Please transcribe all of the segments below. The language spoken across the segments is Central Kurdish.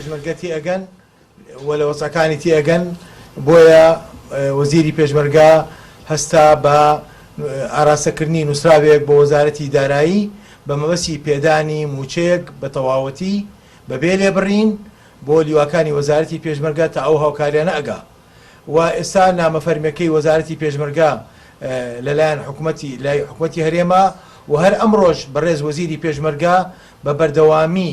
پێشمەرگە تێئەگەن و لە وەزعەکانی تێئەگەن، بۆیە وەزیری پێشمەرگە هەستا بە ئاراستەکردنی نووسراوێک بۆ وەزارەتی دارایی بە مەبەستی پێدانی مووچەیەک بە تەواوەتی بەبێ لێبڕین بۆ لیواکانی وەزارەتی پێشمەرگە تا ئەو هاوکاریانە ئەگا و ئێستا نامە فەرمیەکەی وەزارەتی پێشمەرگە لەلایەن حکومەتی لای حکومەتی هەرێمە و هەر ئەمڕۆش بەڕێز وەزیری پێشمەرگە بە بەردەوامی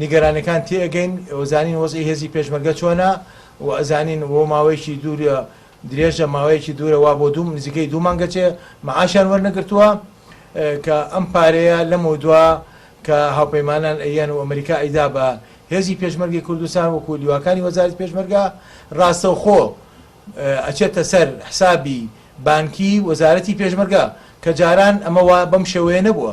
نیگەرانیەکان تێ ئەگەین وەزانین وەزعی هێزی پێشمەرگە چۆنە و ئەزانین وە ماوەیەکی دوورە درێژە ماوەیەکی دوورە وا بۆ دوو نزیکەی دوو مانگە چێ معاشیان وەرنەگرتووە کە ئەم پارەیە لەمەو دوا کە هاوپەیمانان ئەیەن و ئەمریکا ئەیدا بە هێزی پێشمەرگەی کوردستان وەکو لیواکانی وەزارەتی پێشمەرگە ڕاستەوخۆ ئەچێتە سەر حسابی بانکی وەزارەتی پێشمەرگە کە جاران ئەمە وا بەم شێوەیە نەبووە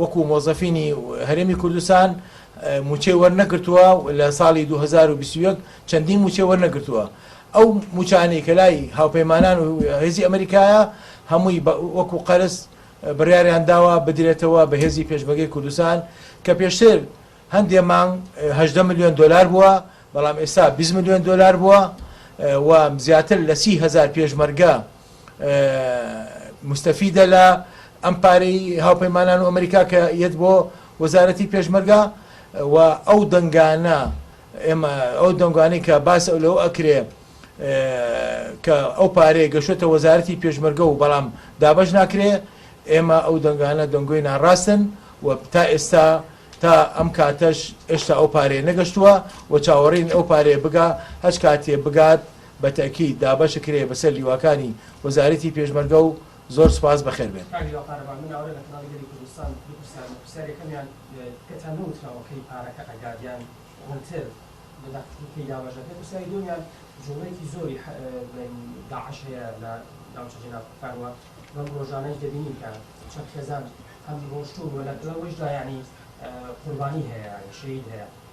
وەکو مۆزەفینی هەرێمی کوردستان مووچەی وەرنەگرتووە و لە ساڵی دوو هەزار و بیست و یەک چەندین مووچەی وەرنەگرتووە. ئەو مووچانەی کە لای هاوپەیمانان و هێزی ئەمریکایە هەمووی وەکو قەرز بڕیاریان داوە بدرێتەوە بە هێزی پێشمەرگەی کوردستان کە پێشتر هەندێ مانگ هەژدە ملیۆن دۆلار بووە بەڵام ئێستا بیست ملیۆن دۆلار بووە و زیاتر لە سی هەزار پێشمەرگە موستەفیدە لە ئەم پارەی هاوپەیمانان و ئەمریکا کە یەت بۆ وەزارەتی پێشمەرگا و ئەو دەنگانە ئێمە ئەو دەنگانی کە باس ئەو لەو ئەکرێ کە ئەو پارەیە گەشتە وەزارەتی پێشمەرگە و بەڵام دابش ناکرێ ئێمە ئەو دەنگانە دەنگۆی ناڕاستن و تا ئێستا تا ئەم کاتەش هێشتا ئەو پارێ نەگەشتووە و چاوەڕین ئەو پارێ بگا هەچ کاتێ بگات بە تەئکید دابەش کرێ بە سەر لیواکانی وەزارەتی پێشمەرگە و زۆر سوپاس بە خێر بێن. کاک لاپارە با مناڵە لە کەناڵی گەلی کوردستان بپرسیان پرسیار یەکەمیان تکتان نەوتراوە کەی پارەکە ئەگات یان ڕونتر بداتن کەی دابەش دەکرێت پرسیاری دووەمیان جوڵەیەکی زۆری داعش هەیە لە ناوچە جێناکوکان وە بەم ڕۆژانەش دەبینین کە چەند خێزان هەم ڕۆشتون وە لە گڵەوەیشدا یانی قوربانی هەیە یانی شەهید هەیە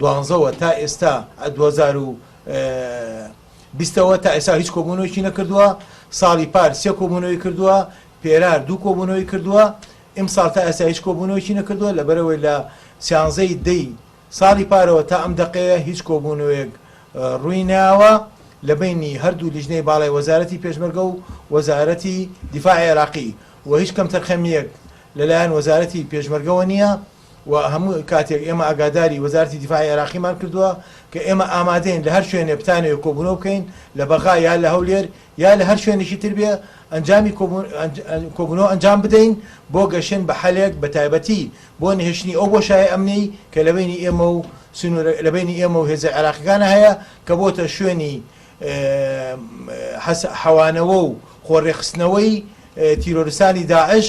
دوازدە وە تا ئێستا ە دوو هەزار و بیست ەوە تا ئێستا هیچ کۆبوونەوەیەکی نەکردووە ساڵی پار سێ کۆبوونەوەی کردووە پێرار دوو کۆبوونەوەی کردووە ئیمساڵ تا ئێستا هیچ کۆبوونەوەیەکی نەکردووە لەبەرەوەی لە سیانزە ی دە ی ساڵی پارەوە تا ئەم دەقەیە هیچ کۆبوونەوەیەک ڕووی ناوە لە بەینی هەردوو لیژنەی باڵای وەزارەتی پێشمەرگە و وەزارەتی دیفاعی عێراقی و هیچ کەمتەرخەمییەک لەلایەن وەزارەتی پێشمەرگەوە نییە. و هەموو کاتێک ئێمە ئاگاداری وەزارەتی دیفاعی عێراقیمان کردووە کە ئێمە ئامادەین لە هەر شوێنێ بتانەوێ کۆبوونەوە بکەین لە بەغا یا لە هەولێر یا لە هەر شوێنێکی تر بێ ئەنجامی کۆبوونەوە ئەنجام بدەین بۆ گەشتن بە حەلێک بە تایبەتی بۆ نەهێشتنی ئەو بۆشایە ئەمنیەی کە لە بەینی ئێمە و سنوورە لە بەینی ئێمە و هێزە عێراقیەکانە هەیە کە بۆتە شوێنی حەوانەوە و خۆ ڕێکخستنەوەی تیرۆرستانی داعش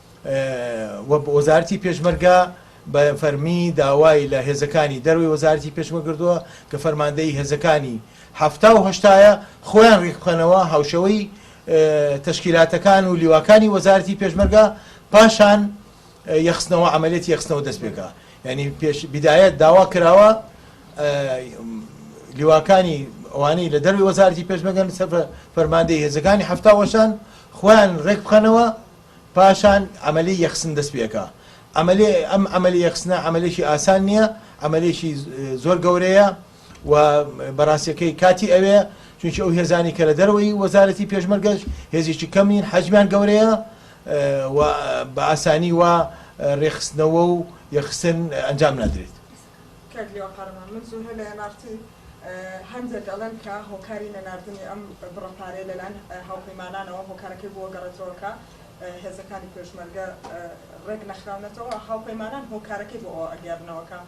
و وەزارەتی پێشمەرگە بە فەرمی داوای لە هێزەکانی دەرەوەی وەزارەتی پێشمەرگە کردووە کە فەرماندەیی هێزەکانی حەفتا و هەشتاە خۆیان ریکبخەنەوە هاوشێوەی تەشکیلاتەکان و لیواکانی وەزارەتی پێشمەرگە پاشان یەخستنەوە عملیاتی یەخستنەوە دەست پێکا یعنی پێش بدایەت داوا کراوە لیواکانی ئەوانەی لە دەروی وەزارتی پێشمەگەن سەر فەرماندەی هێزەکانی هەفتاوەشان خۆیان ڕێک بخەنەوە پاشان عەمەلی یەخسن دەست پێکا. عەمەلی ئەم عەمەلی یەخسنە عەمەلێکی ئاسان نیە عەمەلێکی زۆر گەورەیە و بەڕاستیەکەی کاتی ئەوێ چونکی ئەو هێزانی کە لە دەرەوەی وەزارەتی پێشمەرگەش هێزێکی کەم نین حەجمیان گەورەیە و بە ئاسانی وا رێکخستنەوە و یەخسن ئەنجام نادرێت. کاک لیوا قارەمان من زوهرە لە NRT هەندێک ئەڵێن کە هۆکاری نەناردنی ئەم بڕە پارەیە لەلایەن هاوپەیمانانەوە هۆکارەکەی بووە گەڕێتەوە کە هێزەکانی پێشمەرگە ڕێک نەخراونەتەوە هاوپەیمانان هۆکارەکەی بۆ ئەوە ئەگێڕنەوە کە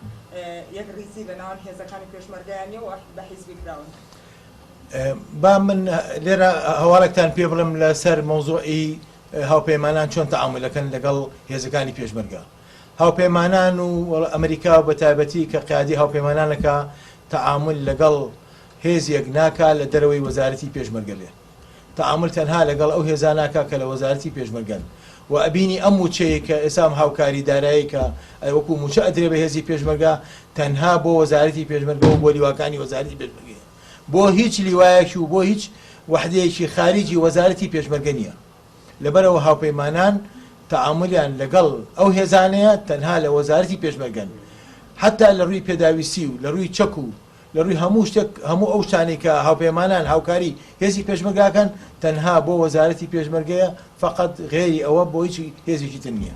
یەکڕیزی لە ناوەن هێزەکانی پێشمەرگەیان نیە و بە حیزبی کراون با من لێرە هەواڵێکتان پێ بڵم لەسەر مۆزۆئی هاوپەیمانان چۆن تەعاملەکەن لەگەڵ هێزەکانی پێشمەرگە هاوپەیمانان و ئەمریکا بە تایبەتی کە قیادی هاوپەیمانانەکە تەعامول لەگەڵ هێزیەک ناکا لە دەرەوەی وەزارەتی پێشمەرگە بێ تەعامول تەنها لەگەڵ ئەو هێزا ناکا کە لە وەزارەتی پێشمەرگەن و ئەبینی ئەم موچەیەی کە ئێسام هاوکاری دارایی کە ئەی وەکو موچە ئەدرێ بە هێزی پێشمەرگە تەنها بۆ وەزارەتی پێشمەرگە و بۆ لیواکانی وەزارەتی پێشمەرگە بۆ هیچ لیوایەکی و بۆ هیچ وەحدەیەکی خاریجی وەزارەتی پێشمەرگە نیە. لەبەرئەوە هاوپەیمانان تەعامولیان لەگەڵ ئەو هێزانەیە تەنها لە وەزارەتی پێشمەرگەن حەتا لە رووی پێداویستی و لە رووی چەک و لە رووی هەموو شتێک هەموو ئەو شتانەی کە هاوپەیمانان هاوکاری هێزی پێشمەرگە ئەکەن تەنها بۆ وەزارەتی پێشمەرگەیە فەقەت غەیری ئەوە بۆ هیچ هێزێکی تر نیە.